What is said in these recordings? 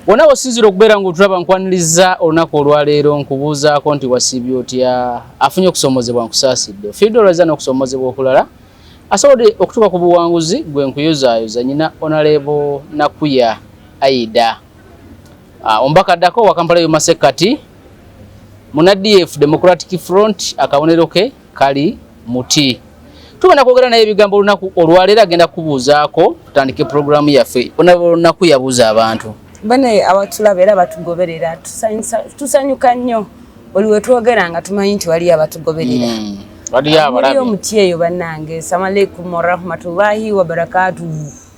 wona wosinzira okubeera nga otulaba nkwaniriza olunaku olwaleero nkubuuzaako nti wasiibye otya afunye okusomozebwa nkusaasidde fiidde olwaza n'okusomozebwa okulala asobodde okutuuka ku buwanguzi gwe nkuyozaayoza nyina onaleebo nakuya aida ah, omubaka addako wakampala yomasekkati mu nadf democratic front akabonero ke kali muti tugenda kwogera naye ebigambo olunaku olwaleero agenda kubuuzaako tutandike pulogulaamu yaffe onaba olunaku yabuuza abantu banaye abatulaba era batugoberera tusanyuka nnyo oli wetwogera nga tumanyi nti waliyo abatugoberera hmm, waliyo abalabi omutyeyo banange salamu alaikum warahmatullahi wabarakatuhu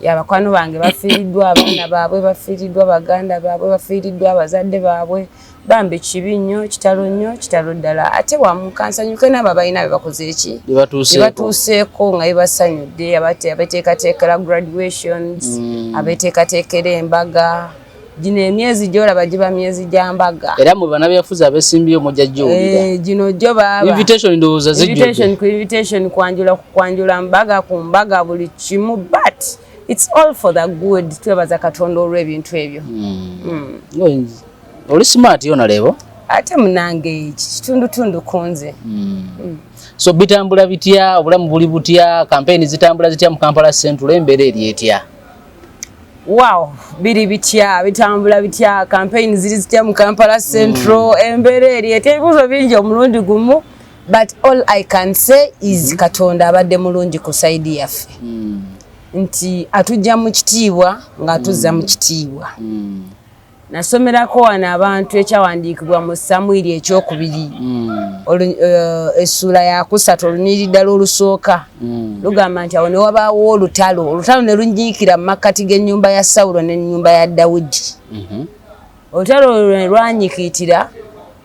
ya bakwano bange bafiiriddwa abaana baabwe bafiiriddwa baganda baabwe bafiiriddwa abazadde baabwe bambi kibi nnyo kitalo nnyo kitalo ddala ate wamukansanyuke naabo abalina bebakoze eki bebatuuseeko nga bebasanyudde abateekateekera graduations mm. abeteekateekera embaga gino emyezi gyolaba giba myezi gya mbaga era mu banabyafuzi abesimbiyo mujja giwulira eh, gino gyo babainvitation kwanjula kwanjula mbaga ku mbaga buli kimu but its all for the good twebaza katonda olw'ebintu ebyo hmm. Hmm. oli smart yona lebo ate munange eki kitundutundu kunze hmm. so bitambula bitya obulamu buli butya kampeyini zitambula zitya mu kampala central embeera eri etya Wow, biri bitya bitambula bitya campaign ziri zitya mu Kampala Central mm. embeera eri etebuzo bingi omulundi gumu but all I can say is mm -hmm. Katonda abadde mulungi ku side yaffe mm. nti atujja mu kitiibwa nga atuzza mm. mu kitiibwa mm. nasomerako wano abantu ekyawandiikibwa mu samwiri ekyokubiri hmm. eh, essuula yakusatu olunyiri ddala olusooka hmm. lugamba nti awo newabaawo olutalo olutalo ne lunyiikira mu makkati g'ennyumba ya sawulo n'ennyumba ya dawudi mhm. olutalo lwe lwanyikiitira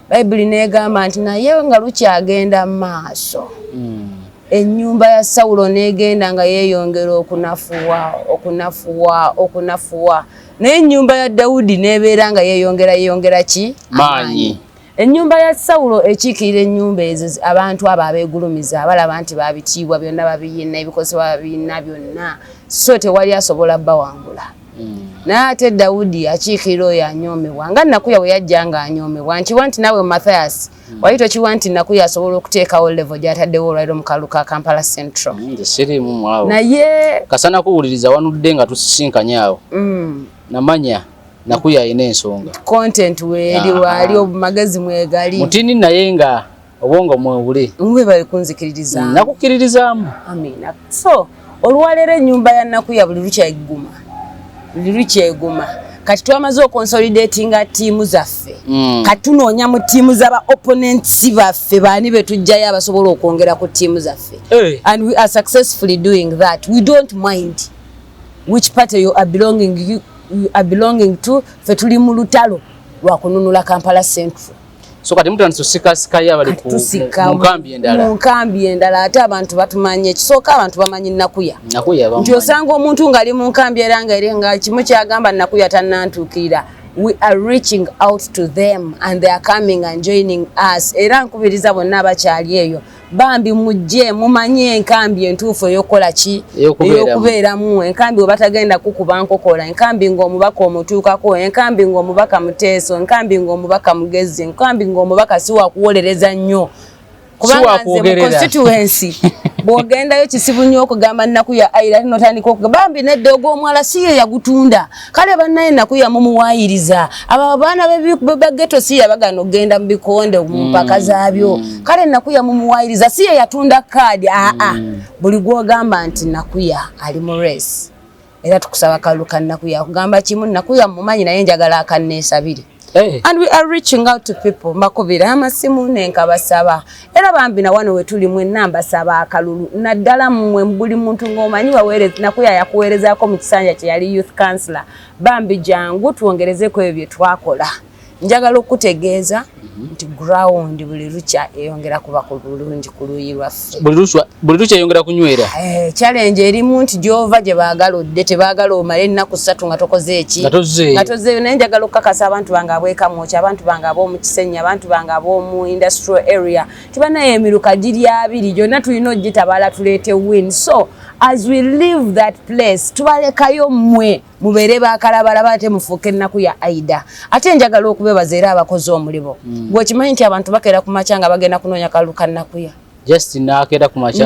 bayibuli n'egamba nti naye nga lukyagenda mu maaso hmm. ennyumba ya sawulo n'egenda nga yeeyongera okunafuwa okunafuwa okunafuwa naye ennyumba ya dawudi n'ebeera nga yeeyongera yeeyongera ki maanyi ennyumba ya sawulo ekiikirira ennyumba ezo abantu abo abeegulumiza abalaba nti babitiibwa byonna babiyina ebikozesebwa babiyina byonna so tewali asobola bawangula naye ate dawudi akiikirira oyo anyoomebwa nga nakuya bwe yajja nga anyoomebwa nkiwa nti naawe mathias hmm. wali tokiwa nti nakuya asobola okuteekawo levo gyataddewo olwaliro mu kalulu ka kampala central hmm, sirimuawo naye kasana kuwuliriza wanudde nga tusisinkanye awo hmm. namanya nakuya alina ensonga content weeri waali obumagezi mwegali mutini naye nga obwongo mwewule webale kunzikiririza mm, nakukiririzaamu amina so olwaleero ennyumba ya nnaku ya buli lukyeguma buli lukyeguma kati twamaze okonsolidatinga tiimu zaffe mm. kati tunoonya mu tiimu zaba opponents baffe baani betujjayo abasobola okwongera ku tiimu zaffe hey. Eh. and we are successfully doing that we don't mind which party you are belonging, you, you are belonging to fe tuli mu lutalo lwakununula kampala central so kati mutandise osikasikayo abali ku nkambi endala mu nkambi endala ate abantu batumanye ekisooka abantu bamanyi nakuya nakuya bamanyi nti osanga omuntu ng'ali mu nkambi era nga ere nga kimu kyagamba nakuya tannantuukirira we are reaching out to them and they are coming and joining us era nkubiriza bonna abakyali eyo bambi mujje mumanye enkambi entuufu eyokukola ki eyokubeeramu enkambi webatagenda kukuba nkokola enkambi ngaomubaka omutuukako enkambi ngaomubaka muteeso enkambi ngaomubaka mugezi enkambi ngaomubaka siwakuwolereza nnyo kubanga nze mu constituency bwogendayo kisibu nnyo okugamba nnaku ya aira notandika okuga bambi nedda ogwomwala siyo yagutunda kale banaye nakuya mumuwayiriza abo abaana begeto si yabagana okugenda mu bikonde mumpaka mm, zaabyo mm. kale nakuya mumuwayiriza si ye yatunda kaadi aa ah, ah. mm. buli gwogamba nti nakuya ali mu resi era tukusaba kalulu kanakuya kugamba kimu nakuya mumanyi naye njagala akanneesabire Hey. Eh. And we are reaching out to people makubira amasimu nenkabasaba era bambi na wano wetuli mwe namba saba akalulu naddala mwe mbuli muntu ng'omanyi waweereza nakuya yakuweerezaako mu kisanja kye yali youth councilor bambi jangu twongerezeko ebyo bye twakola njagala okukutegeeza mhm. nti ground buli lukya eyongera kuba ku bulungi ku luuyi lwaffe buli lukya yongera kunywera eh, challenge erimu nti gyova gye baagala odde tebaagala omala ennaku ssatu nga tokoze eki nga tozeeyo naye njagala okukakasa abantu bange abwekamwoki abantu bange ab'omu kisenyi abantu bange ab'omu industrial area tibanaye emiruka giri abiri gyonna tulina ogitabaala tuleete win so as we leave that place tubalekayo mmwe mubeere bakalabalaba ate mufuuke ennaku ya aida ate njagala okubebaza era abakozi omulibo mm. gwekimanyi nti abantu bakeera ku makya nga bagenda kunoonya kalulu ka nnakuya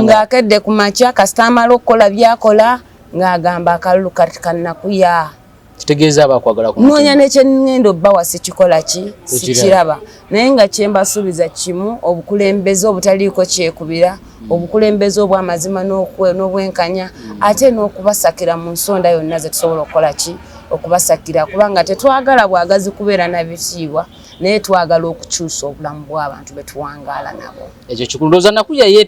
ng'akedde ku makya kasita amala okukola byakola ng'agamba akalulu kati ka nnakuya kitegeeza abakwagala kunoonya nekyenngendo bbawa sikikola ki sikiraba naye nga kyembasuubiza kimu obukulembeze obutaliiko kyekubira mm. obukulembeze obwamazima n'obwenkanya mm. ate n'okubasakira mu nsonda yonna zetusobola okukola ki okubasakira kubanga tetwagala bwagazi kubeera na bitiibwa naye twagala okukyusa obulamu bw'abantu betuwangaala nabo ekyo kikulu ndooza nakuya ye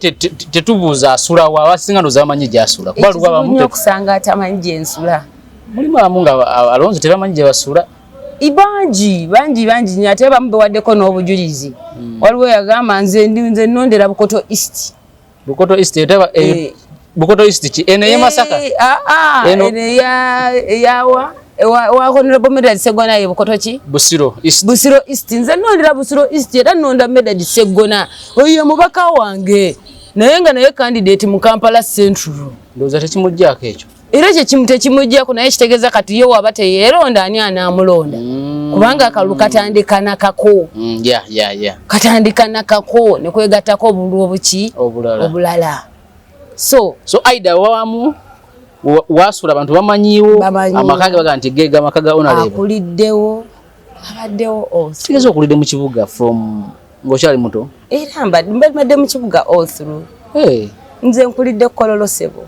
tetubuuza asulawo abasinga ndooza bamanyi gyasula kuba luba bamu okusanga atamanyi gyensula mulimu abamu nga alonzi tebamanyi gyebasula ibangi bangi bangi nyo ate bamu bewaddeko n'obujulizi hmm. waliwo yagamba nze nze nondera bukoto east bukoto east etaba eh, eh. bukoto east ki eno ye masaka eh, ah, ah, eno ya yawa wa honorable medal segona ye bukoto ki busiro east busiro east nze nondera busiro east era nonda medal segona oyo mubaka wange naye nga naye candidate mu kampala central ndoza tekimujjako ekyo era ekyo kimu tekimujjako naye kitegeeza kati ye waba teyeeronda ani anaamulonda mm. kubanga akalulu katandika nakako mm, katandika nakako ne kwegattako obululu obuki obulala so so aida wawamu waasula abantu bamanyiiwo amaka ge baga nti geega amaka ga onalebo akuliddewo abaddewo oh, kitegeeza okulidde mu kibuga from ng'okyali muto era mbadde mu kibuga all through nze nkulidde kololosebo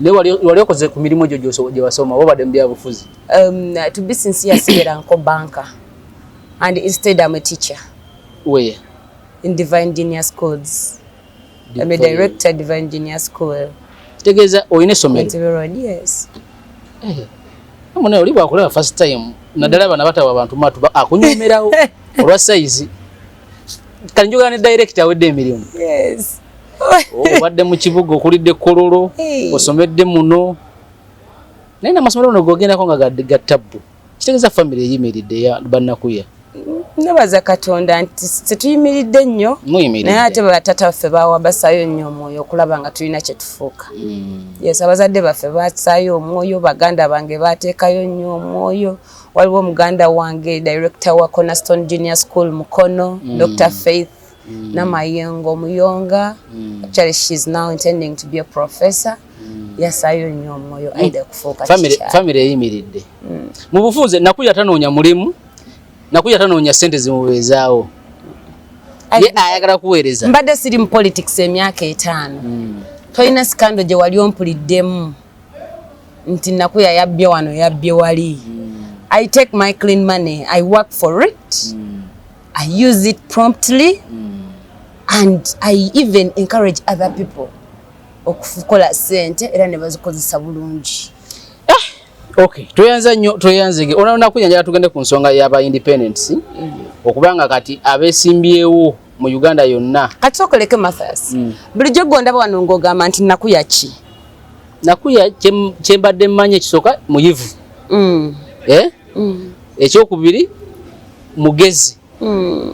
naye wali okoze ku mirimu egyo gye wasoma oba obadde mu byabufuzi um, to be sincere sigera nko banka and instead am a teacher where in divine genius schools am a director divine genius school kitegeeza olina essomero yes eh, mune oli bwakulaba first time naddala bana batawa bantu matu akunyumirawo olwa sayizi kati njogera ne director awedde emirimu yes obadde mu kibuga okulidde kololo osomedde muno naye namasomero ono gogendako nga ga tabbu kitegeeza famiry eyimiridde ya bannakuya nebaza katonda nti tetuyimiridde nnyo naye ate batata baffe bawabasayo nnyo omwoyo okulaba nga tulina kyetufuuka mm. yes abazadde baffe basayo omwoyo baganda bange batekayo nnyo omwoyo waliwo muganda wange director wa Cornerstone Junior School Mukono mm. Dr Faith mm. Namayengo Muyonga mm. actually she is now intending to be a professor mm. yasayo nnyo omwoyo mm. aida kufuuka family family eyimiridde mm. mu bufunze nakuya tanoonya mulimu nakuya tanoonya sente zimubeezaawo ye ayagala kuweereza mbadde siri mu politics emyaka etaano mm. tolina sikando gye wali ompuliddemu nti nakuya yabbye wano yabbye wali mm. i take my clean money i work for it mm. i use it promptly mm. and i even encourage other people okukola sente era ne bazikozesa bulungi eh, Okay, tuyanza nyo tuyanzege. Ona ona kunya njala tugende ku nsonga ya ba independence. Mm. Okubanga kati abesimbyewo mu Uganda yonna. Kati tokoleke Mathias. Mm. Bulijjo gondaba wano ng'ogamba nti nakuya ki? Nakuya kye mbadde mmanyi ekisooka muyivu. Mm. Eh? Mm. Ekyokubiri mugezi. Mm.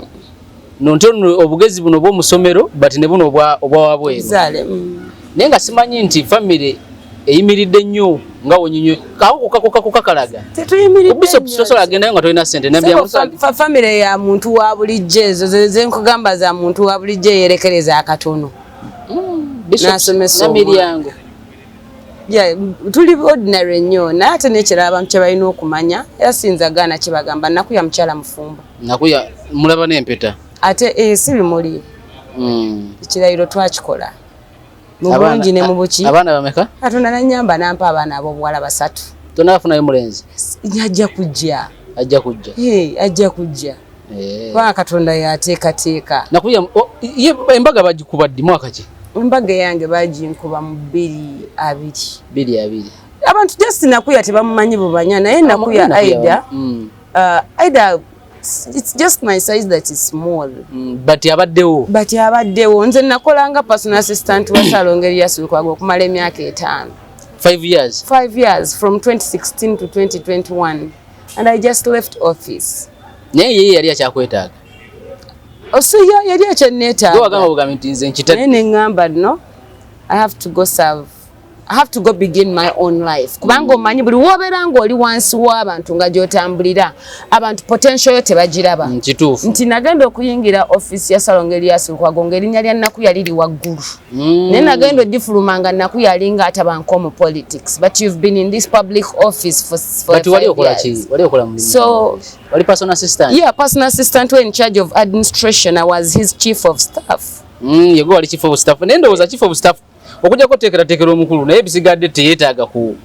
Nonte obugezi buno obw'omu ssomero but ne buno obwa obwa wabweru. Zale. Mm. naye nga simanyi nti famire eyimiridde nnyo nga wonyinyo kakukakukakukakalaga tetuyimiriddebisobola agendayo nga tolina sente famire ya muntu wa bulijjo ezo zenkugamba za muntu wa bulijjo eyerekereza akatono hmm, nasomesa omwana tuli ordinary nnyo naye ate nekirala abantu kyebalina okumanya era siyinza gaana kyebagamba naku ya mukyala mufumbo naku ya mulaba n'empeta ate eh, si bimuli hmm. ekirayiro twakikola mubulungi ne mubuki abaana bameka katonda nanyamba nampa abaana abobuwala basatu tonafunayo mulenzi ajja kujja ajja kujja ajja kujja eh. kubanga katonda yateekateeka nakuya embaga bagikuba ddi mwaka ki embaga yange baginkuba mu bbiri abiri bbiri abiri abantu just nakuya tebamumanyi bubanya naye nakuya aida mm. uh, aida it's just my size that is small mm, but yabaddewo but yabaddewo nze nakolanga personal assistant wa salongo eriyasirukwaga okumala emyaka etaano five years five years from 2016 to 2021 and i just left office naye yeye yali akyakwetaaga osuya oh, yali akyanneetaagaagamba bugambi nti nze nkita naye ne ŋŋamba no i have to go serve I have to go begin my own life kubanga omanyi buli wobeera ng'oli wansi w'abantu nga gy'otambulira abantu potential yo tebagiraba mm, kituufu nti nagenda okuyingira office ya salonga elias lukwago ng'erinnya lya nnaku yali li waggulu mm. naye nagenda ogifuluma nga nnaku yali nga atabanka omu politics but you've been in this public office for, for but wali okola ki wali okola mu so wali personal assistant yeah personal assistant were in charge of administration i was his chief of staff mm, yego wali chief of staff nendowooza chief of staff okujja kuteekerateekera omukulu naye bisigadde teyeetaaga ku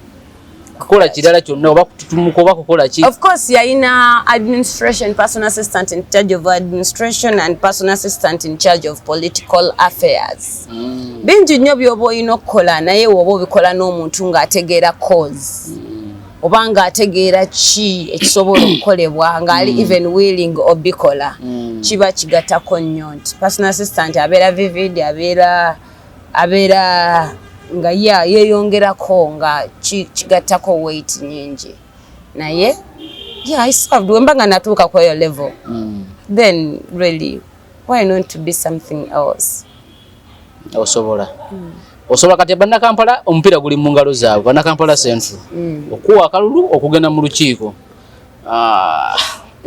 kukola kirala kyonna oba kututumuka oba kukola ki of course yalina administration personal assistant in charge of administration and personal assistant in charge of political affairs mm. bingi nnyo byoba olina okukola naye woba obikola n'omuntu ng'ategeera cause mm. oba ng'ategeera ki ekisobola okukolebwa ng'ali mm. even willing obikola mm. kiba kigatako nnyo nti personal assistant abeera vivid abeera abeera nga ya yeyongerako nga kigattako weight nyingi naye yeah, I served wemba nga natuuka kweyo level mm. then really why not to be something else osobola mm. osobola kati bannakampala omupiira guli mu ngalo zaabwe bannakampala central mm. okuwa akalulu okugenda mu lukiiko ah.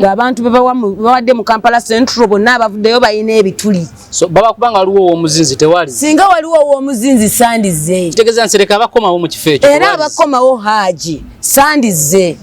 ng'abantu bebawadde mu kampala central bonna abavuddeyo balina ebituli baba kubanga waliwo owomuzinzi tewali singa waliwo owomuzinzi sandize kitegeeza nsereka abakomawo mu kifo ekyo era abakomawo haaji sandize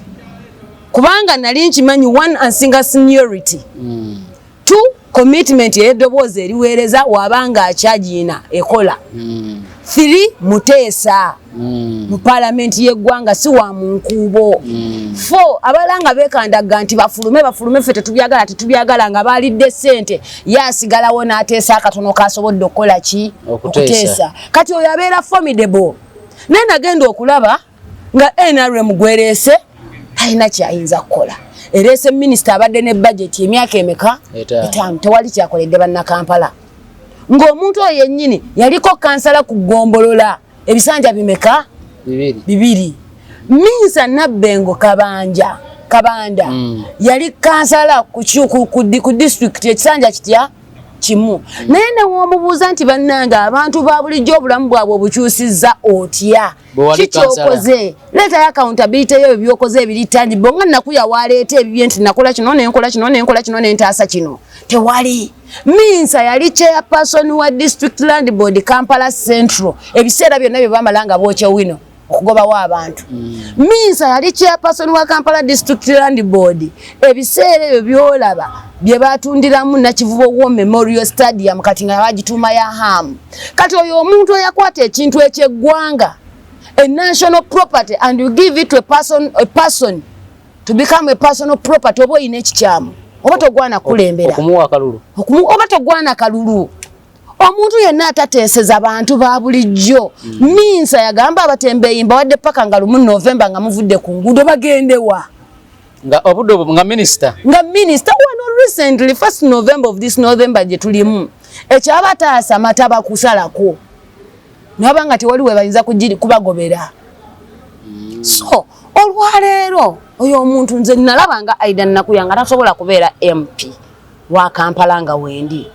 kubanga nali nkimanyi one and single seniority mm. tu commitment ey'eddoboozi eriweereza waba nga akyagiina ekola hmm. three muteesa hmm. mu paalamenti y'eggwanga si wa mu nkuubo hmm. four abala nga beekandagga nti bafulume bafulume ffe tetubyagala tetubyagala nga baalidde ssente ye asigalawo n'ateesa akatono kaasobodde okukola ki okuteesa kati oyo abeera formidable naye nagenda okulaba nga nrm gwereese talina kyayinza kukola ereese minisita abadde ne bajeti emyaka emeka etaano tewali kyakoledde bannakampala ng'omuntu oyo yennyini yaliko kansala ku ggombolola ebisanja bimeka bibiri minsa nabbengo kabanja kabanda mm. yali kansala ku disitulikiti ekisanja kitya kimu mm. naye newomubuuza nti bannange abantu ba bulijjo obulamu bwabwe obukyusizza otya kikyokoze leetayo accountability yo ebyokoze ebiri tangible nga nakuya waleeta ebibye nti nakola kino nenkola kino nenkola kino nentaasa kino tewali minsa yali chairperson wa district land board kampala central ebiseera byonna bye bamala nga bookya wino okugobawo abantu mm. minsa yali chairperson wa kampala district land board ebiseera ebyo byolaba bye batundiramu nakivubo wo memorial stadium kati nga bagituuma ya hamu kati oyo omuntu eyakwata ekintu ekyeggwanga a national property and you give it to a person, a person to become a personal property oba oyina ekikyamu oba togwana kulembera oba togwana kalulu omuntu yenna atateeseza bantu ba bulijjo mm. minsa yagamba abatembeeyi mbawadde paka nga lumu novemba nga muvudde ku nguudo bagendewa nga obudo nga minister nga minister wano recently first november of this november je tulimu ekyaba taasa mata bakusalako naba nga tewali webayinza kujiri kubagobera mm. so olwaleero oyo omuntu nze nalaba nga aida nakuyanga tasobola kubeera mp wa kampala nga wendi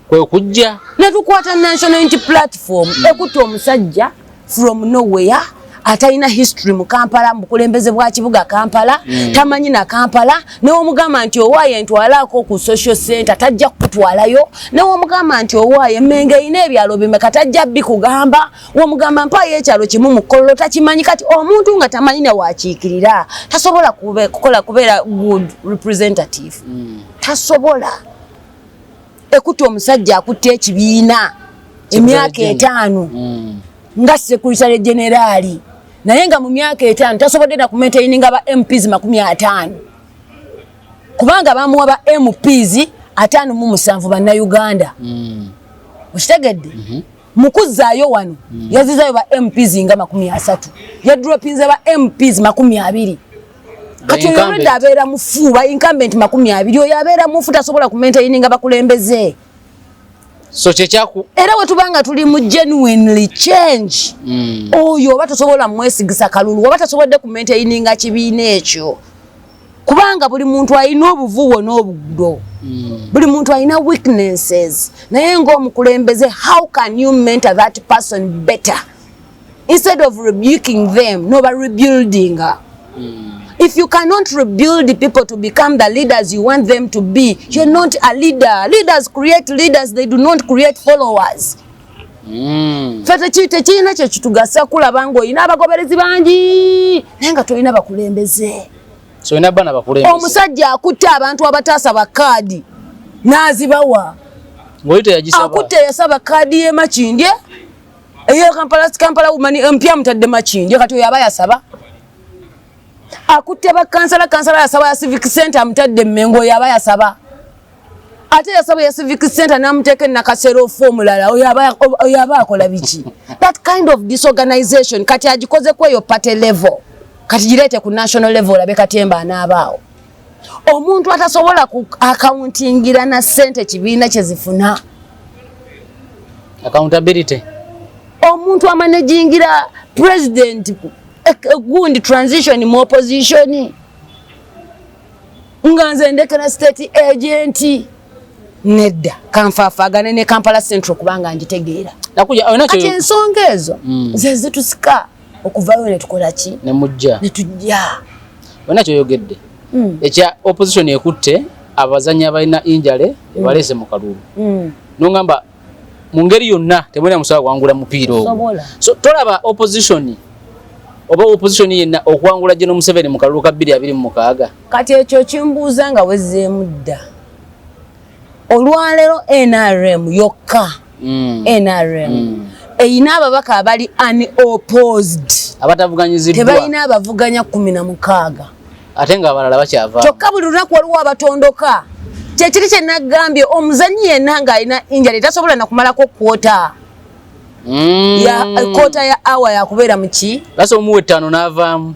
kwe kujja ne tukwata national unity platform mm. ekutte omusajja from nowhere atalina history mu kampala mu bukulembeze bwa kibuga kampala mm. tamanyi na kampala newomugamba nti owaayo entwalaako ku social center tajja kukutwalayo newomugamba nti owaayo emmenga erina ebyalo bimeka tajja bikugamba womugamba mpaayo ekyalo kimu mu kololo takimanyi kati omuntu nga tamanyi ne wakiikirira tasobola kukola kubeera good representative mm. tasobola ekutte omusajja akutte ekibiina emyaka etaano mm. nga sekurisale generaali naye nga mu myaka etaano tasobodde na kumaintaininga ba mps makumi ataano kubanga bamuwa ba mps ataano mu musanvu bannauganda mm. okitegedde mm -hmm. mukuzaayo wano mm. yazizayo ba mps nga makumi asatu yadropinze ba mps makumi abiri kati oyo olwedde abeera mufu ba incumbent makumi abiri oyo abeera mufu tasobola kumaintaininga bakulembeze so kyekyaku era wetubanga tuli mu genuinely change mm. oyo oba tosobola mwesigisa kalulu oba tasobodde kumaintaininga kibiina ekyo kubanga buli muntu alina obuvuwo n'obugdo mm. buli muntu alina weaknesses naye ngaomukulembeze how can you mentor that person better instead of rebuking them no ba rebuilding mm. if you cannot rebuild the people to become the leaders you want them to be you're not a leader leaders create leaders they do not create followers mm. fe tekirina kyekitugasa kulaba nga olina abagoberezi bangi naye nga tolina bakulembeze so ina bana bakulembeze omusajja akutte abantu abataasa bakaadi n'azibawa ng'oyita yagisaba akutte yasaba kaadi y'emakindye eyo kampala kampala umani empya mutadde makindi kati oyo aba yasaba akutte bakansala kansala yasaba ya civic center amutadde mmengo oyo aba yasaba ate yasaba ya civic center namuteeka enakasera ofu omulala oyo aba akola biki that kind of disorganization kati agikoze kweyo party level kati gireete ku national level olabe katemba anaabaawo omuntu atasobola ku akauntingira na sente kibiina kyezifuna accountability omuntu amanejingira president eh, eh, gundi transition mu opposition nga nze ndekera state agent nedda kanfaafagane ne kampala central kubanga njitegeera kati ensonga ezo mm. zezitusika okuvayo netukola ki nemujja netujja bona kyoyogedde mm. ekya opposition ekutte abazanyi abalina injale mm. ebalese mu kalulu mm. nongamba mu ngeri yonna temulina musobola kuwangula mupiira ogwo so tolaba opposition oba opposition yenna okuwangula gye nomuseveni mu kalulu ka bbiri abiri mu mukaaga kati ekyo kimbuuza nga wezzeemu dda olwaleero nrm yokka mm. nrm mm. eyina ababaka abali unopposed abatavuganyiziddwa tebalina abavuganya kumi na mukaaga ate nga abalala bakyava kyokka buli lunaku waliwo abatondoka kyekiri kye nagambye omuzanyi yenna ng'alina injali tasobola nakumalako kwota mm. ya kota ya awa yakubeera muki lasa omuwa ettaano n'avaamu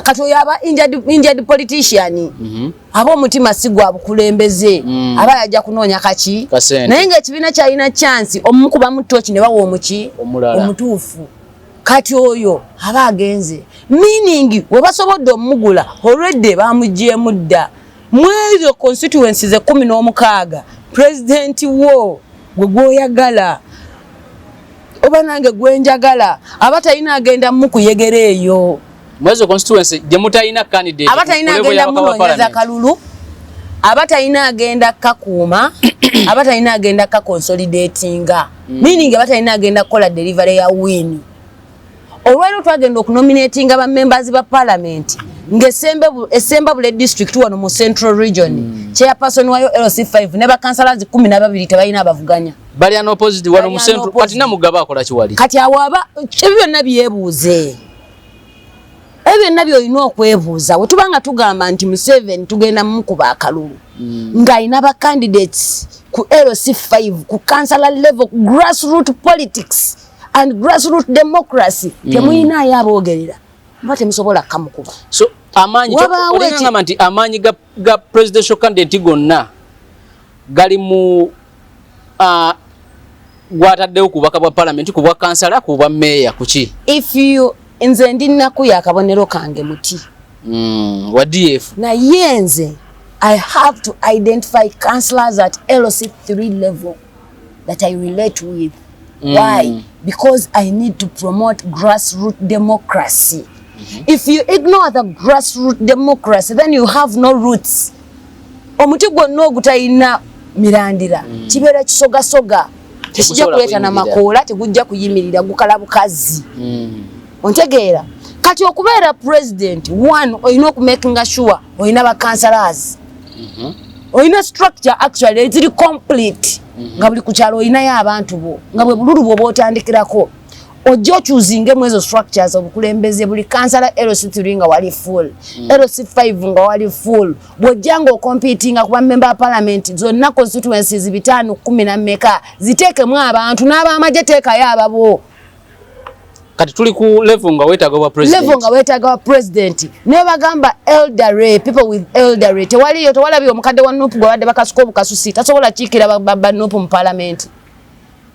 kati oyo aba injad politician mm -hmm. aba omutima si gwa bukulembeze mm. aba yajja kunoonya kaki naye ngaekibiina kyalina chansi omukuba mutoki ne bawa omuki omutuufu kati oyo aba agenze meaning webasobodde omugula olwedde bamugyemu dda mwezo constituency ze kumi n'omukaaga pulezidenti wo gwe gwoyagala oba nange gwenjagala aba talina agenda mukuyegera eyo mwezo constituency gye mutalina candidate abatalina agenda munonyeza kalulu abatalina agenda kakuuma abatalina agenda kakonsolidatinga mm. meaning abatalina agenda kukola delivery ya win olwaliro twagenda okunominatinga ba members ba parliament ngaesemba bule district wano mu central region mm. chairperson wayo lc5 ne bakansalazi kumi nababiri tebalina abavuganya bali anopposite wano mu central kati namugaba akola kiwali kati awo aba ebyo byonna byebuuze ebyo byonna byolina okwebuuza wetuba nga tugamba nti museveni tugenda mukuba akalulu mm. ng'alina ba candidates ku lc 5 ku councilor level ku grass root politics and grass root democracy mm. temuyinaayo aboogerera oba temusobola kamukuba amaanyi ga presidential candidate gonna gali mu uh, gwataddewo ku bubaka bwa palamenti ku bwa kansala ku bwa meeya kuki if you nze ndi nnaku ya kabonero kange muti mm, wa df naye nze i have to identify councilors at lc 3 level that i relate with mm. why because i need to promote grassroot democracy mm -hmm. if you ignore the grassroot democracy then you have no roots omuti gwonna ogutalina mirandira mm. kibeera kisogasoga tekijja kuleeta na makoola tegujja kuyimirira gukala bukazi mm. ontegeera kati okubeera president one olina okumakinga sure olina bacancelors mm-hmm. olina structure actually eziri complete mm-hmm. nga buli ku kyalo olinayo abantu bo nga bwe bululu bwoba otandikirako ojja okyuzinge mu ezo structures obukulembeze buli kansala lc3 nga wali full mm. lc5 nga wali full bwojja nga okompitinga kuba member wa palamenti zonna constituencies bitaano kumi na mmeka ziteekemu abantu n'abaamagye teekayo ababo kati tuli ku level nga wetaga wa president level nga wetaga wa president ne bagamba elderly people with elderly tewali yo tewala biyo mukadde wa nup gwa bade bakasuko bukasusi tasobola chikira ba, ba, ba nup mu parliament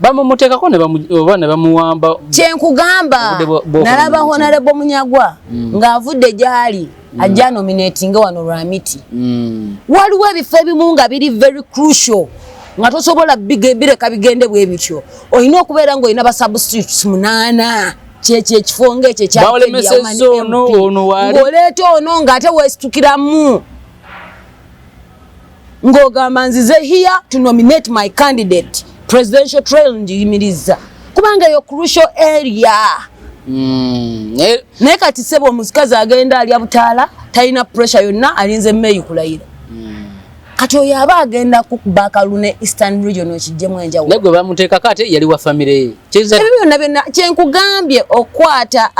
bamumutekako oba ne bamuwamba kyenkugamba nalaba honarebo munyagwa mm. ng'avudde gyali mm. ajja nominatinga wano lwa miti mm. waliwo ebifo ebimu nga biri very crucial nga tosobola bireka bigende bwe bityo olina okubeera ng'olina basubstitutes munaana kyekyo ekifo ngaekyo kyaoleeta ono ng'ate wesitukiramu ng'ogamba nzize here to nominate my candidate presidential trail njiyimirizza kubanga yo crucial area hmm, naye kati sebo omusikazi agenda alya butaala talina pressure yonna alinze meyi kulayira hmm. kati oyo aba agenda kukuba kalune eastern region ekijjemu enjawulo naye gwe bamuteekako ate yali wa famire ye ebyo byonna byonna kyenkugambye okwata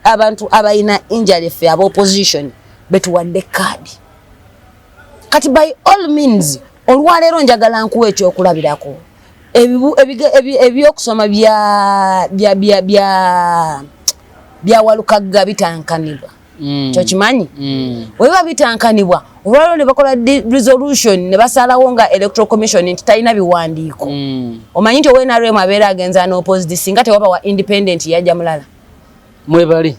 abantu abalina injalefe aba opposition betuwadde kaadi kati by all means olwaleero njagala nkuwa ekyokulabirako ebyokusoma bya walukagga bitankanibwa mm. kyokimanyi mm. webiba bitankanibwa olwaliro nebakola resolution nebasalawo nga electoral commission nti talina biwandiiko mm. omanyi nti ownrm abeera agenza noposed singa tewaba wa independent yajja mulala mwebali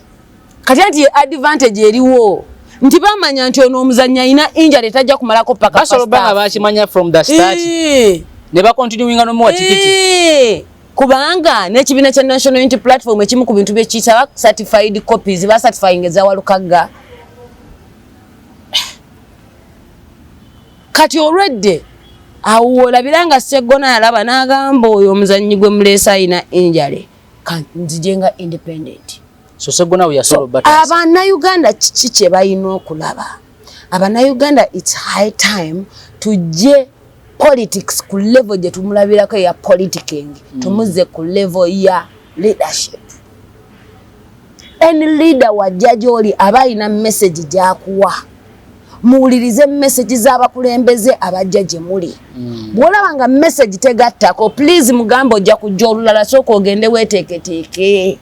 kati anti ye advantage eriwo nti bamanya nti ono omuzanyi alina injury tajja kumalako paka basolo banga bakimanya from the start ne ba continuinga no muwa tikiti kubanga n'ekibiina kya national unity platform ekimu ku bintu byekiyitaba certified copies ba certifying ezawalukagga kati olwedde awo wolabira nga seggona yalaba n'agamba oyo omuzannyi gwe muleesa alina injale kanzije nga independent so segona we are solo but abana uganda kiki kye bayina okulaba abana uganda it's high time tujje politics ku level gye tumulabirako ya politicking mm. tumuze ku level ya leadership any leader wa judge oli aba ina message jakuwa muwulirize message z'abakulembeze abajja gye muli mm. bwolaba nga message tegattako please mugambe ojja kujja olulala sooka ogende weeteeketeeke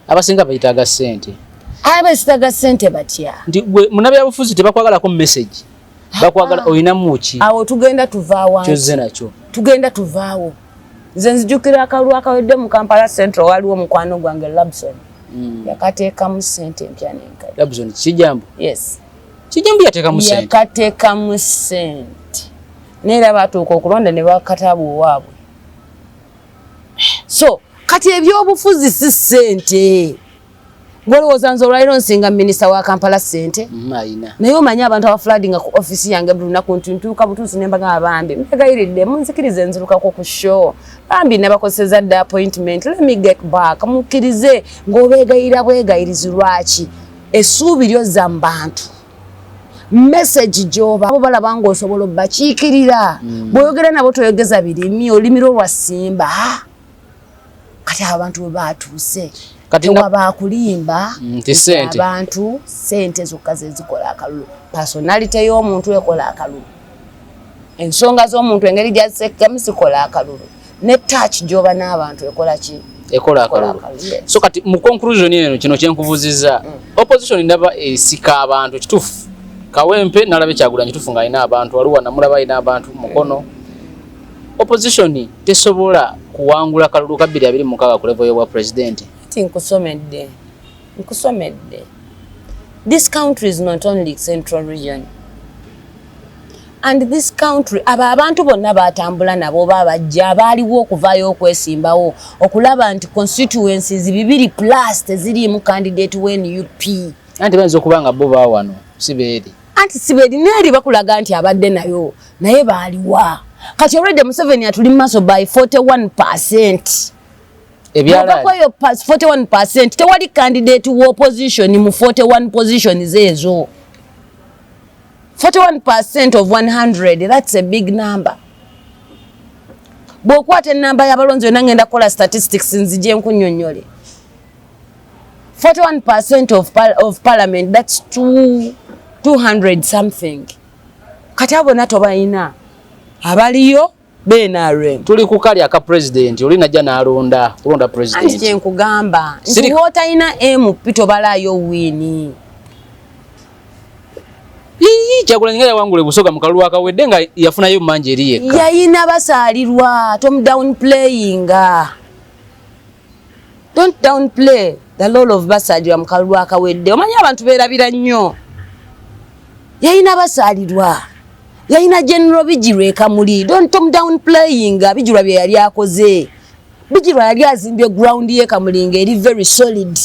abasinga bayitaaga ssente abesitaga sente batya nti gwe munabyabufuzi tebakwagalako message bakwagala olinamuki awo tugenda tuvaawo kyoze nakyo tugenda tuvaawo nze nzijukira akalulu akawedde mu kampala central waliwo mukwano gwange labson mm. yakateekamu sente empya nenkadlabson kijambo yes kijambo yatekamu sente yakatekamu sente neera batuuka okulonda ne bakatabu owaabwe so kati ebyobufuzi si sente Ngolowooza nze olwaliro nsinga minisita wa Kampala ssente mm, naye omanyi abantu abafulaadinga ku ofisi yange buli lunaku nti ntuuka butuusi ne mbagamba bambi mbegayiridde munzikirize nzirukako ku show bambi nabakozeseza dda appointment let me get back mukkirize ng'obeegayira bwegayirizi lwaki essuubi lyo zza mu bantu message gyoba bo balaba ng'osobola obakiikirira mm. bw'oyogera nabo toyogeza birimi olimira olwa simba kati abantu bwe baatuuse tewabaakulimba mm, nti abantu sente zokka zezikola akalulu pasonalite y'omuntu ekola akalulu ensonga z'omuntu engeri gyazisekkamu zikola akalulu ne taaki gyoba n'abantu ekola ki ekola akalulu so kati mu conclusion eno kino kyenkubuzizza mm. opposition ndaba esika abantu kituufu kawempe nalaba ekyagulanyi tufu nga alina abantu waliwo namulaba alina abantu mukono mm. Opposition tesobola kuwangula kalulu ka 2026 ku level y'obwa president. Kati nkusomedde nkusomedde this country is not only central region and this country abo abantu bonna batambula nabo oba abajja abaaliwo okuvaayo okwesimbawo okulaba nti constituencies bibiri plus teziriimu candidate wen up anti bayinza okuba nga bo bawano si beeri anti sibelina eri bakulaga nti abadde nayo naye baaliwa kati already museveni atuli mu maaso by 41 percent ebyalakweyo 41 percent tewali candidate wa opposition mu 41 positions ezo 41 percent of 100 that's a big number bwokwata enamba yabalonzi yona ngenda kukola statistics nzije nkunyonyole 41% of, par of parliament that's 2 200 something kati abo nato balina abaliyo benarem tuli kukali aka president oli najja nalonda kulonda president anti kyenkugamba nti wotalina emu pito balayo wini kyagulanyi nga yawangula busoga mu kalulu akawedde nga yafunayo manja eri yekka yayina basaalirwa tom down playinga Don't downplay the role of Basaalirwa mu kalulu akawedde. Omanyi abantu beerabira nnyo. Yalina Basaalirwa, yalina General Bijirwa e Kamuli. Don't tom down playing Bijirwa bye yali akoze. Bijirwa yali azimbye ground ye Kamuli ng'eri very solid.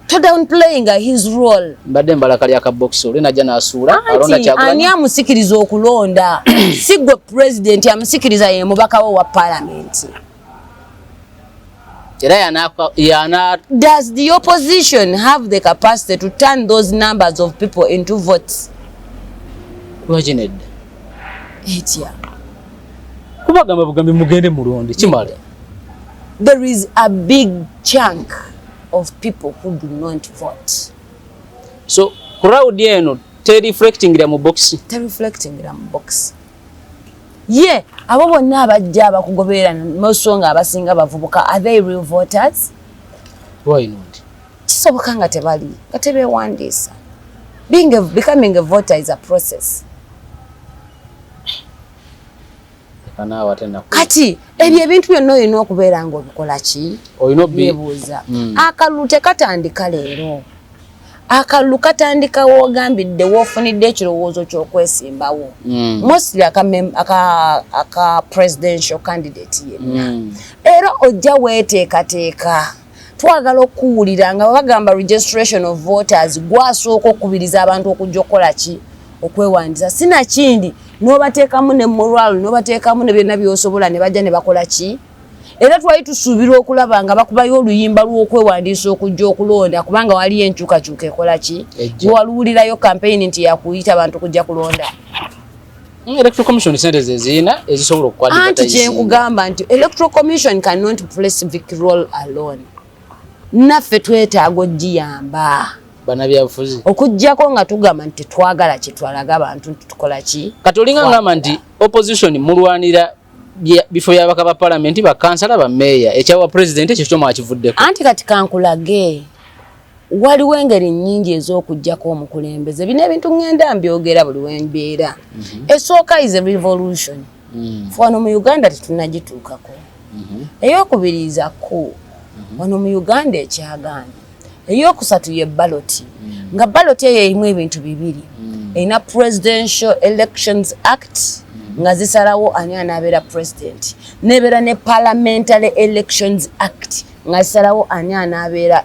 to downplaying his role mbadde mbala kali aka box ole naja nasuula alonda chagula ani amusikiriza okulonda sigwe president amusikiriza ye mubaka wa parliament era yana yana does the opposition have the capacity to turn those numbers of people into votes wajined etia kubagamba bugambi mugende mulonde kimala there is a big chunk of people who do not vote so crowd eno te reflecting mu box te reflecting mu box ye abo bonna abajja abakugoberera nosonga abasinga bavubuka are they real voters why not kisoboka nga tebali nga tebewandiisa being a, becoming a voter is a process kati ebyo ebintu byonna olina okubeera nga obikola ki nebuuza mm. akalulu tekatandika leero akalulu katandika wogambidde wofunidde ekirowoozo kyokwesimbawo mm. mostly aka, aka, aka presidential candidate yenna mm. era ojja weteekateeka twagala okuwulira nga bagamba registration of voters gwasooka okukubiriza abantu okujja okukola ki okwewandiisa sinakindi nobateekamu ne moral nobateekamu ne byonna byosobola ne bajja ne bakola ki era twali tusuubirwa okulaba nga bakubayo oluyimba lw'okwewandiisa okujja okulonda kubanga waliyo enkyukakyuka ekola ki waluwulirayo kampeyini nti yakuyita bantu kujja kulonda Mm, electoral commission sente zezina ezisobola okukwata anti kyenkugamba nti electoral commission cannot play civic role alone naffe twetaaga ogiyamba banabyabufuzi okujjako nga tugamba nti twagala kyetwalaga abantu nti tukola ki kati olinga ngamba nti opposition mulwanira bifo byabaka ba palamenti bakansala bameeya ekyawa pulezidenti ekyo kyomwakivuddeko anti kati kankulage waliwo engeri nnyingi ez'okugyako omukulembeze bino ebintu ŋŋenda mbyogera buli wembeera mhm. esooka is a revolution mhm. wano mu uganda tetunagituukako mhm. eyokubiriiza ku wano mu uganda ekyagaana eyokusatu ye baloti nga baloti eyo erimu ebintu bibiri erina presidential elections act nga zisalawo ani anaabeera president nebeera ne parliamentary elections act nga zisalawo ani anaabeera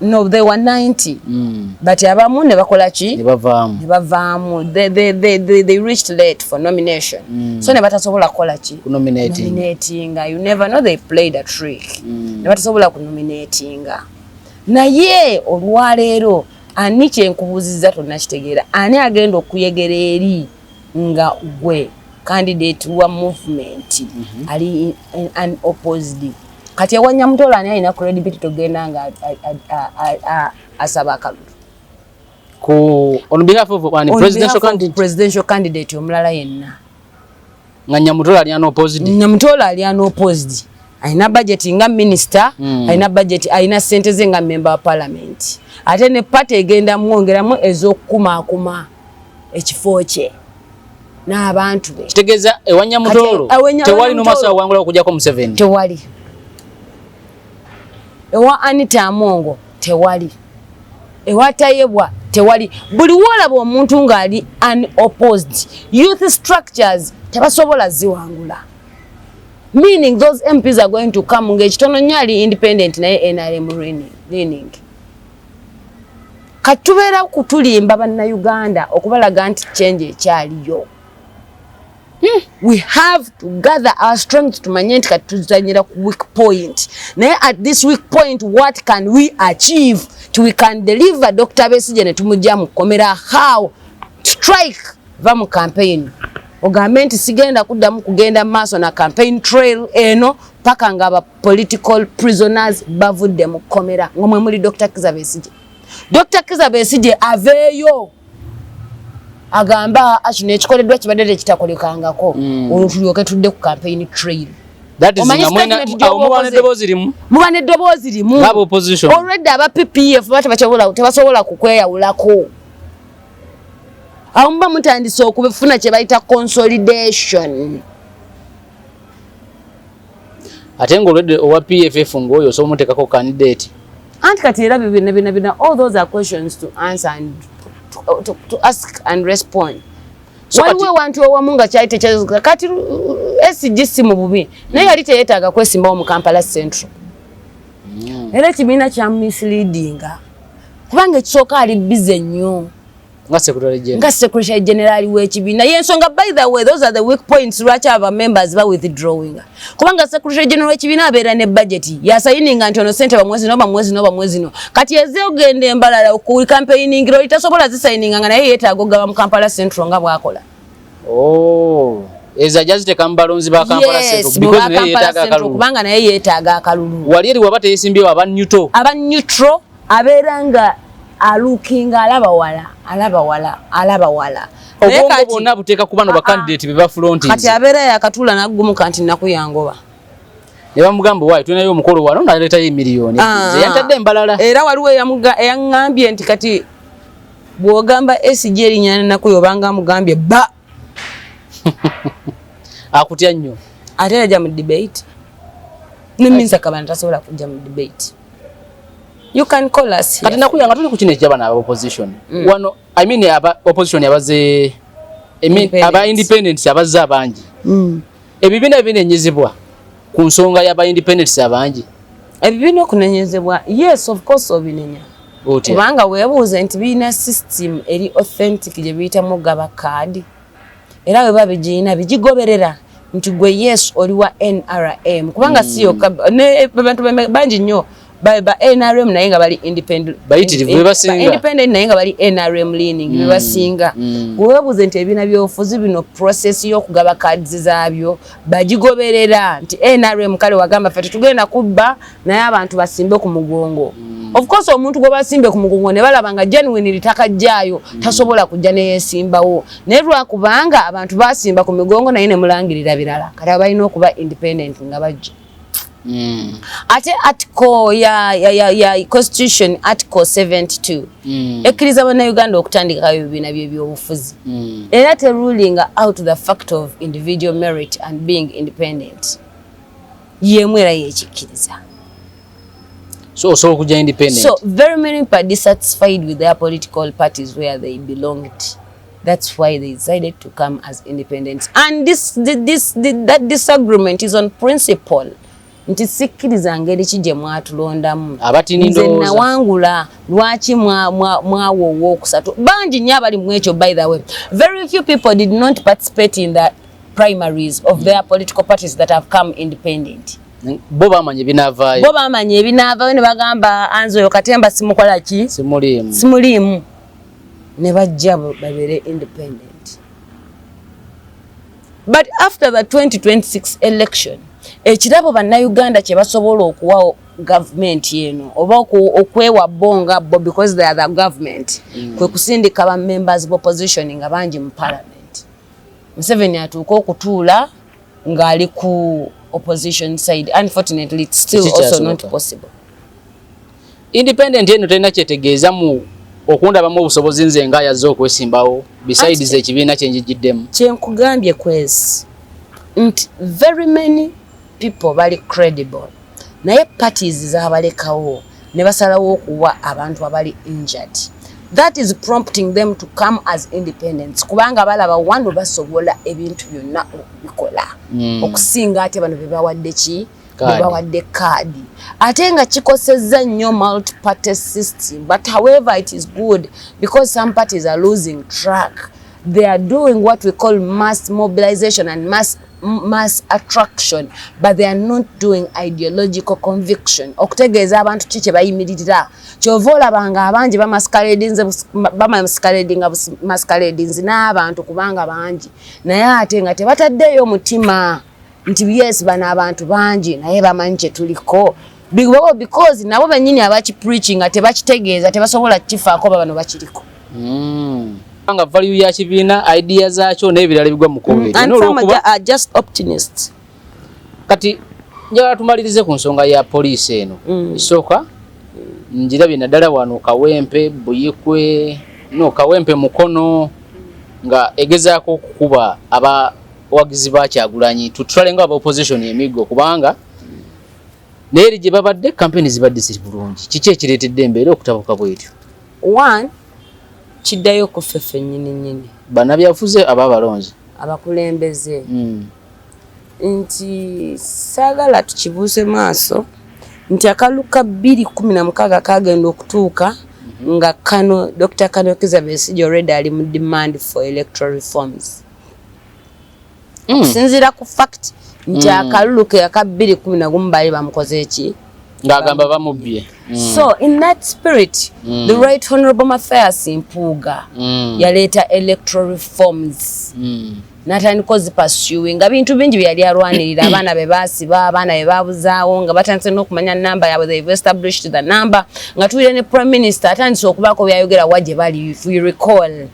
no they were 90 mm. but abamu ne bakola ki ne bavamu ne bavamu they, they, they, they, they reached late for nomination mm. so ne batasobola kola ki ku nominating nominating you never know they played a trick mm. ne batasobola ku nominating naye olwaleero ani kyenkubuziza tonna kitegeera ani agenda okuyegera eri nga gwe candidate wa movement mm -hmm. ali an opposed kati awanya mutola ani alina credibility togenda nga asaba akalulu ku on behalf of one presidential candidate presidential candidate omulala yenna nga nyamutola ali anopposed nyamutola ali anopposed alina budget nga minister mm. alina budget alina sente ze nga member wa parliament ate ne party egenda mwongeramu ezokukumakuma ekifo kye n'abantu be kitegeeza ewa nyamutoolo tewali nomaso awangula okujako museveni tewali ewa anita amongo tewali ewatayebwa tewali buli wolaba omuntu ng'ali unopposed youth structures tebasobola ziwangula meaning those mps are going to come ng'ekitono nnyo ali independent naye nrm leaning kati tubeera kutulimba bannayuganda okubalaga nti change ekyaliyo Hmm. we have to gather our strength tumanye nti kati tuzanyira ku weak point naye at this weak point what can we achieve ti we can deliver dr besije ne tumujja mu kkomera how strike va mu campaign ogambe nti sigenda kuddamu kugenda maaso na campaign trail eno paka nga aba political prisoners bavudde mu kkomera ngomwe muli dr kizabesije Dr. Kiza Besigye aveeyo agamba kino ekikoleddwa kibadde tekitakolekangako mm. olwo tulyoke tudde ku campaign trail muba neddoboozi limu olwedde aba ppf tebasobola kukweyawulako awo muba mutandise okufuna kyebayita consolidation ate nga olwedde owa pff ngaoyo osobola omuteekako candidate anti kati era bibina bina bina all those are questions to answer and to, to, to ask and respond waliwo ewantu owamu nga kyali tekyazuka kati uh, sg si mu bubi naye yali teyetaaga kwesimbawo mu kampala central mm. era ekibiina kyamumisleadinga kubanga ekisooka ali bize nnyo nga secretary general nga secretary general w'ekibiina y'ensonga by the way those are the weak points lwaki aba members ba withdrawing kubanga secretary general w'ekibiina abeera ne budget yasayininga nti ono sente bamwezi no bamwezi no bamwezi no kati eze ogenda embalala ku campaigning loli tasobola zisayininga nga naye yeetaaga okugaba mu kampala central nga bwakola oh. eza jaziteka mubalonzi ba kampala central kubanga naye yeetaaga akalulu wali eri waba teyesimbyewo aba neutral aba neutral abeera nga alukinga alaba wala alaba wala alaba wala obwongo bwonna buteeka ku bano bakandidate ah, ah. bebafulonti kati abeera yakatula naggumuka nti nnaku yangoba ne bamugamba waayi tulinayo omukolo wano naleetayo emiliyoni ah, eyantadde embalala era waliwo eyaŋŋambye nti kati bw'ogamba esigi erinya nnaku yobanga amugambye ba akutya nnyo ate era ja mu debate neminsa kabana tasobola kujja mu debate you can call us kati nakuya nga tuli ku kino ekyabana aba opposition mm. wano i mean aba opposition abaze i mean aba independents abaze abangi mm. ebibina binenyezebwa ku nsonga yaba independents abangi ebibina okunenyezebwa yes of course obinenya kubanga webuuze nti birina system eri authentic gye biyitamu gaba kaadi era bwe biba bigirina bigigoberera nti gwe yes oli wa nrm kubanga si yokka abantu bangi nnyo ba nrm naye nga bali independentindependent naye nga bali nrm leaning mm. bebasinga mm. wewebuuze nti ebibiina byobufuzi bino process y'okugaba cards zaabyo bagigoberera nti nrm kale wagamba fe tetugenda kubba naye abantu basimbe ku mugongo mm. of course omuntu gwe basimbe ku mugongo ne balaba nga genuine litaka jjaayo mm. tasobola kujja ne yeesimbawo naye lwakubanga abantu basimba ku migongo naye ne mulangirira birala kati abalina okuba independent nga bajja Mm. ate article ya, ya, ya, ya constitution article 72 mm. ekkiriza bannauganda okutandikawo ebibiina byebyobufuzi mm. era terulinga out the fact of individual merit and being independent yemu era yekikkiriza so so okuja independent so very many people dissatisfied with their political parties where they belonged that's why they decided to come as independent and this, this, this, this that disagreement is on principle nti sikkiriza ngeri ki gye mwatulondamu nze nawangula lwaki mwawa owookusatu bangi nnyo abali mu ekyo by the way very few people did not participate in the primaries of their political parties that have come independent bo bamanya ebinavaayo bo bamanya ebinavaayo ne bagamba anze oyo katemba simukola ki simuliimu simuliimu ne bajja babere independent but after the 2026 election ekirabo bannayuganda kye basobola okuwawo gavumenti eno oba okwewa bo nga bo because they are the government mm. kwe kusindika ba members of opposition nga bangi mu parliament Museveni atuuka okutuula ng'ali ku opposition side unfortunately it's still also not possible independent eno tena kyetegeeza mu okundabamu obusobozi nze nga yazze okwesimbawo besides ekibiina kyenjijiddemu kyenkugambye kwezi nti very many people bali credible naye parties zabalekawo ne basalawo okuwa abantu abali injured that is prompting them to come as independence kubanga balaba wano basobola ebintu byonna okubikola mm. okusinga ate bano bebawadde ki bebawadde kaadi ate nga kikosezza nnyo multiparty system but however it is good because some parties are losing track they are doing what we call mass mobilization and mass mass attraction but they are not doing ideological conviction okutegeeza abantu ki kyebayimiririra kyova olaba nga abangi bamaskaledinga maskaledins n'abantu kubanga bangi naye ate nga tebataddeeyo omutima nti yes bano abantu bangi naye bamanyi kyetuliko bigobawo because nabo benyini abaki preaching nga tebakitegeeza tebasobola kifaako babano bakiriko mm. nga value ya kibiina idea zaakyo n'ebirala bigwa mukubi mm. kati njagala tumalirize ku nsonga ya poliisi eno mm. isooka njirabye naddala wano kawempe buyikwe no kawempe mukono nga egezaako okukuba abawagizi bakyagulanyi tutwale nga aba opposition emiggo kubanga naye eri gye babadde kampeyini zibadde ziri bulungi kiki ekireetedde embeera okutabuka bwetyo one kiddayo kuffe ffennyini nnyini banabyafuze aba abalonzi abakulembeze hmm. nti saagala tukibuuse maaso nti akalulu ka bbiri kumi na mukaaga kagenda okutuuka mhm. nga kano dr kano kizabesigi already ali mu demand for electoral reforms mm. okusinziira ku fact nti mm. akalulu ke aka bbiri kumi na gumu baali bamukoze eki ng'agamba bamubbye mm. so in that spirit mm. the right honorable mathias mpuuga mm. yaleeta electoral reforms mm. natandika ozipasuing nga bintu bingi byeyali alwanirira abaana be basiba abaana be babuzaawo nga batandise n'okumanya namba yaabwe they've established the number nga tuwire ne prime minister atandise okubaako byayogera wa gye bali if we recall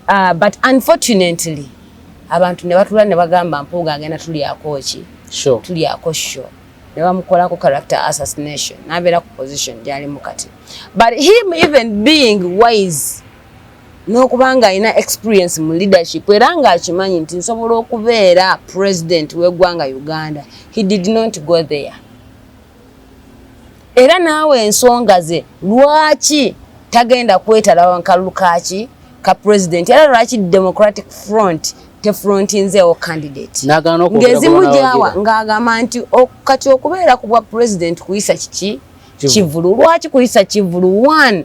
Uh, but unfortunately abantu ne batula ne bagamba mpuuga agenda tulyako ki sure. tulyako sho ne bamukolako character assassination nabeera ku position gyalimu kati but him even being wise n'okuba nga alina experience mu leadership era ng'akimanyi nti nsobola okubeera president w'eggwanga uganda he did not go there era naawe ensonga ze lwaki tagenda kwetalawa nkalulu kaki ka president era lwaki democratic front tefrontinzeewo candidate ng'ezimu gyawa ng'agamba nti kati okubeera ku bwa president kuyisa kiki kivulu lwaki kuyisa kivulu one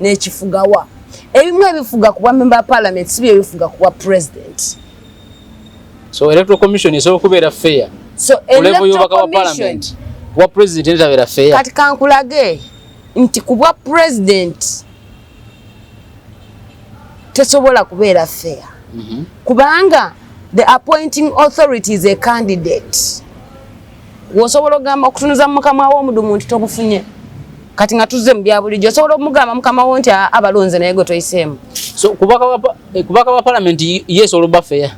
nekifugawa ebimu ebifuga kubwa member ya parliament sibyo ebifuga kubwa president so electoral commission esobola okubeera fair so kulevo yobaka wa parliament kubwa president etabeera fair kati kankulage nti kubwa president tesobola kubeera fair mm -hmm. kubanga the appointing authority is a candidate Wosobola ogamba okutunuza mukama wo omudumu nti tobufunye. Kati nga tuzze mu bya bulijjo osobola omugamba mukama wo nti abalonze naye gwe toyiseemu. So kubaka wa eh, kubaka wa parliament yes oluba fair.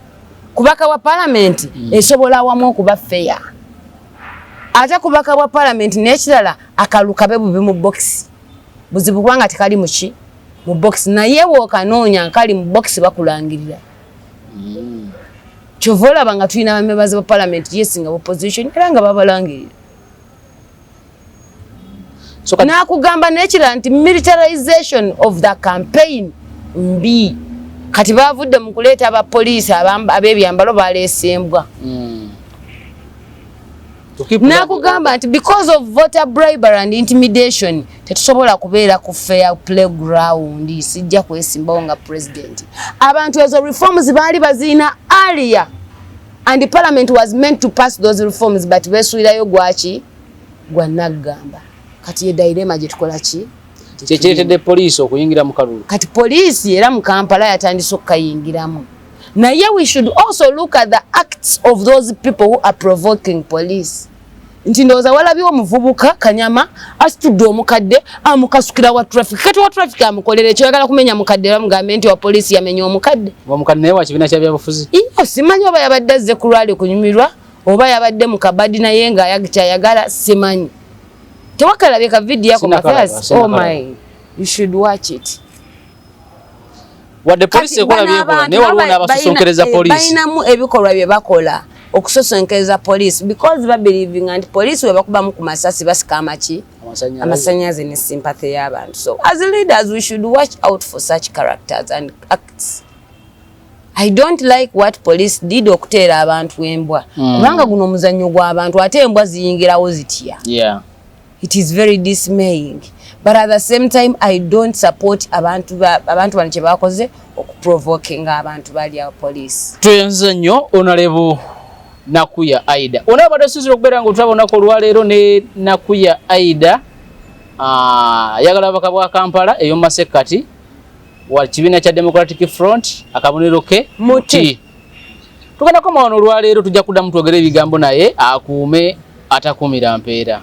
Kubaka wa parliament mm. esobola wamu okuba fair. Ate kubaka wa parliament n'ekirala akalukabe bubi mu box. Buzibu kwanga tekali muki mu box naye wokanoonya nkali mu box bakulangirira. mm. kyova olaba nga tulina bamebazi ba palamenti yes nga opposition era nga babalangirira nakugamba nekirala nti militarization of the campaign mbi kati bavudde mu kuleeta abapoliisi abebyambalo baleesembwa mm. nakugamba nti because of voter bribery and intimidation tetusobola kubeera ku fair playground sijja kwesimbawo nga president abantu ezo reforms baali baziina alia and parliament was meant to pass those reforms but besuirayo gwaki gwa naggamba kati ye dairema gyetukola ki kyekiretedde poliisi okuyingira mu kalulu kati poliisi era mu kampala yatandise okukayingiramu naye we should also look at the acts of those people who are provoking police nti ndowooza walabiwo omuvubuka kanyama asitudde omukadde amukasukira wa traffic kati wa traffic amukolera ekyo yagala kumenya mukadde bamugambe nti wa poliisi yamenya omukadde omukadde naye wakibiina kyabyabufuzi iyo simanyi oba yabadde azze ku lwali kunyumirwa oba yabadde mu kabadi naye nga kyayagala simanyi tewakalabye ka vidiyo ako mathias oh my you should watch it wadde poliisi ekola byekola naye waliwo n'abasosonkereza eh, poliisi balinamu ebikolwa bye bakola okusosonkereza poliisi because babelivinga nti poliisi we bakubamu ku masasi basika amaki amasanyaze ne sympathy y'abantu so as leaders we should watch out for such characters and acts I don't like what police did okuteera abantu embwa hmm. kubanga guno omuzannyo gw'abantu ate embwa ziyingirawo zitya yeah. It is very dismaying but at the same time I don't support abantu abantu bano kyebakoze okuprovoking abantu bali ya police. Tuyenze nnyo onalebo Nakuya Aida. Ona abadde sizira okubeera nga otutabonako olwaleero ne Nakuya Aida ah, ayagala abaka bwa Kampala eyomumasekkati wa kibiina kya Democratic Front akabonero ke muti. Tugenda komawo olwaleero tujja kuddamu twogere ebigambo naye akuume atakuumira mpeera.